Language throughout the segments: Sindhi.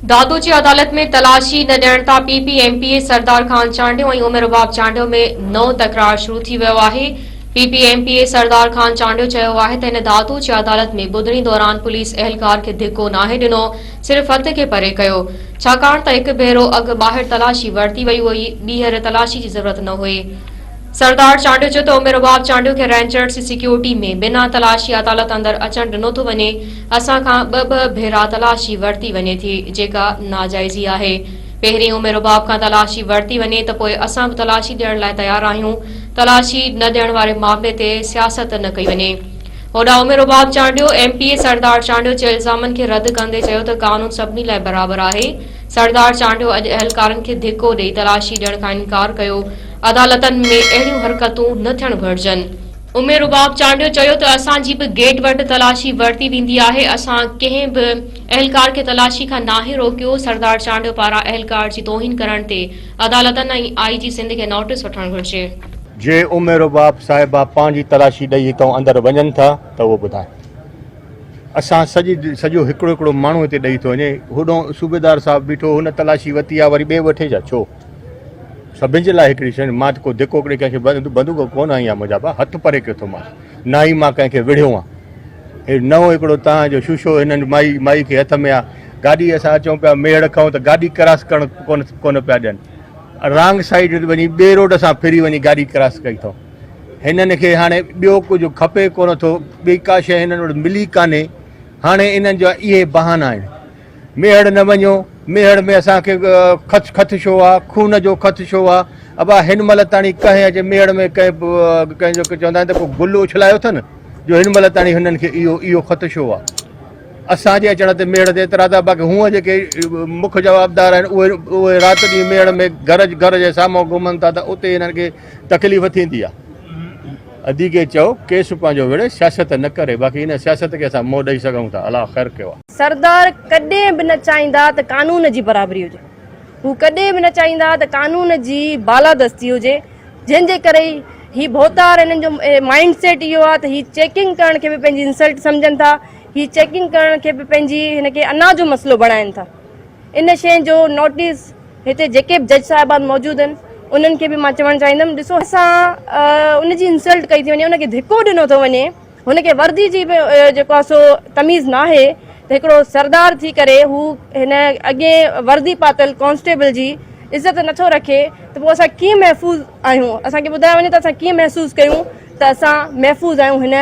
دادو جي عدالت ۾ تلاشي نه ڏيڻ تان P P M P A Sardar Khan Chandio ۽ Umar Rabab Chandio ۾ نئون تڪرار شروع ٿي ويو آهي P P M P A Sardar Khan Chandio چيو آهي ته هن دادو جي عدالت ۾ ٻڌڻي دوران پوليس اهلڪار کي ڌڪو ناهي ڏنو صرف هٿ کي پري ڪيو ڇاڪاڻ ته هڪ ڀيرو اڳ ٻاهر تلاشي ورتي وئي هئي ٻيهر تلاشي جي ضرورت نه هئي سردار چانڊيو چيو ته عمر رباب چانڊيو کي رينجرز جي سيڪيورٽي ۾ بنا تلاشي عدالت اندر اچڻ ڏنو ٿو وڃي اسان کان ٻه ٻه ڀيرا تلاشي ورتي وڃي ٿي جيڪا ناجائزي آهي. پهرين عمر رباب کان تلاشي ورتي وڃي ته پوء اسان به تلاشي ڏيڻ لاء تيار آهيون. تلاشي نه ڏيڻ واري معاملي تي سياست نه ڪئي وڃي. هوڏانهن Umar Rabab Chandio M P A Sardar Chandio جي الزامن کي رد ڪندي چيو ته قانون سڀني لاء برابر آهي. سردار چانڊيو اڄ اهلڪارن کي ڌڪو ڏئي تلاشي ڏيڻ کان انڪار ڪيو. عدالتن ۾ اهڙيون حرڪتون نه ٿيڻ گهرجن. امير رباب چانڊيو چيو ته اسان جي به گيٽ وٽ تلاشي ورتي ويندي آهي اسان ڪنهن به اهلڪار کي تلاشي کان ناهي روڪيو سردار چانڊيو پاران اهلڪار جي توهين ڪرڻ تي عدالتن ۽ آئي جي سنڌ کي نوٽيس وٺڻ گهرجي. جي امير رباب صاحبه پنهنجي تلاشي ڏئي هتئون اندر وڃن ٿا ته اهو ٻڌائي اسان سڄي سڄو هڪڙو هڪڙو ماڻهو هتي ڏئي ٿو وڃي هوڏهون صوبيدار صاحب بيٺو هن تلاشي وتي آ وري ٻئي وٺي ڇا ڇو سڀني جي لاء هڪڙي شيء، مان ته ڪو ڌڪ هڪڙي ڪنهن کي بندوق ڪونه هنئي آهي منهنجا ڀاء، هٿ پري ڪيو اٿو مانس، نه ئي مان ڪنهن کي وڙهيو آهي. هي نئون هڪڙو تان جو شوشو هنن مائي مائي کي هٿ ۾ آ، گاڏي اسان اچون پيا ميهڙ کان ته گاڏي ڪراس ڪرڻ ڪونه پيا ڏين، رانگ سائيڊ وڃي ٻئي روڊ سان ڦري وڃي گاڏي ڪراس ڪئي اٿئون. هنن کي هاڻي ٻيو ڪجهه کپي ڪونه ٿو، ٻي ڪا شيء هنن وٽ ملي ڪانهي، هاڻي انهن جا اهي بهانا آهن. ميهڙ نه وڃو، ميهڙ ۾ اسان کي خط خط شو آ، خون جو خط شو آ، ابا هن مهل تاڻي ڪنهن اچي ميهڙ ۾ ڪنهن ڪنهن جو چوندا آهن ته ڪو گل اڇلايو اٿن جو هن مهل تاڻي هنن کي اهو اهو خط شو آ. اسان جي اچڻ تي ميهڙ تي اعتراض آ باقي هونء جيڪي مک جوابدار آهن اهي اهي رات ڏينهن ميهڙ ۾ گهر گهر جي سامهون گهمن ٿا ته اتي هنن کي تڪليف ٿيندي آ. ادي کي چئو ڪيس پنهنجو وڙهي سياست نه ڪري باقي ان سياست کي اسان منهن ڏئي سگهون ٿا الله خير ڪيو آ. سردار ڪڏهن به نه چاهيندا ته قانون جي برابري هجي، هو ڪڏهن به نه چاهيندا ته قانون جي بالادستي هجي، جنهن جي ڪري ئي هي ڀوتار هنن جو مائينڊ سيٽ اهو آهي ته هي چيڪنگ ڪرڻ کي به پنهنجي انسلٽ سمجهن ٿا، هي چيڪنگ ڪرڻ کي به پنهنجي هن کي انا جو مسئلو بڻائين ٿا. ان شين جو نوٽيس هتي جيڪي به جج صاحبان موجود آهن انهن کي به مان چوڻ چاهيندم ڏسو اسان ان جي انسلٽ ڪئي ٿي وڃي، ان کي ڌڪو ڏنو ٿو وڃي، هن کي وردي جي به جيڪو آهي سو تميز ناهي ته هڪڙو سردار ٿي ڪري هو هن اڳين وردي پاتل ڪانسٽيبل جي عزت نٿو رکي ته پوء اسان ڪيئن محفوظ آهيون اسان کي ٻڌايو وڃي ته اسان ڪيئن محسوس ڪيون ته اسان محفوظ آهيون هن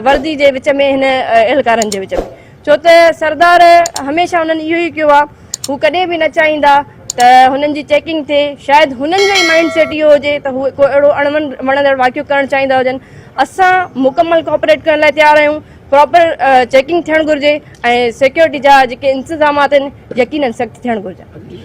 وردي جي وچ ۾ هن اهلڪارن جي وچ ۾ ڇو ته سردار هميشه هنن اهو ئي ڪيو آهي هو ڪڏهن به نه چاهيندا ته هنن جي چيڪنگ ٿئي شايد هنن جو ئي مائنڊ سيٽ اهو هجي ته هو ڪو اهڙو اڻ وڻندڙ واقعو ڪرڻ چاهيندا هجن اسان مڪمل ڪوپريٽ ڪرڻ لاء تيار آهيون پراپر چيڪنگ ٿيڻ گهرجي ۽ سيڪيورٽي جا جيڪي انتظامات آهن يقينن سخت ٿيڻ گهرجن